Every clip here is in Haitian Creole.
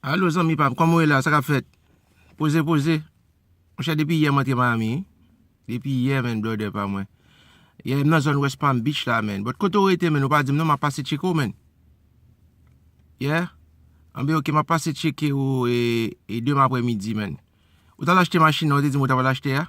Allo zanmi pam koman ou ye la sa kap fèt poze poze monchè depi yè mwen te Miami wi depi yè menn brother pa mwen yè m nan zòn west palm beach la menn but kote ou rete menn ou pa dim non map pase tcheke w menn yeah anben ok map pase tcheke w e deman aprè midi menn ou tal achte machin nan ou te dim ou ta pral achte a.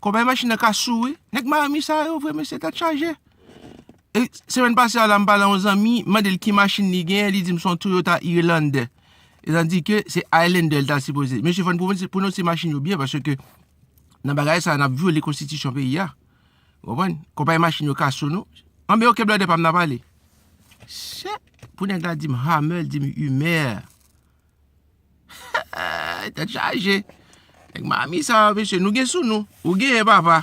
Konpayi machin nan ka sou wi. Nèg Miami sa yo vre mesye tèt chaje. E semèn pase a la m pale a yon zanmi, m mande l ki machin li genyen, li di m son Toyota Highlander. Etandi ke se Highlander li ta sipoze. Mesye fò n pwononse machin yo byen paske nan bagay sa a n ap vyole konstitisyon peyi a. Ou konprann? Konpayi machin yo ka sou nou. Anben ok blòdè pa m n ap ale. Sèt! Pou nèg la di m Hummer, li di m Hummer. Tèt chaje. Nèg Miami sa yo mesye. Nou gen sou nou. Ou genyen papa.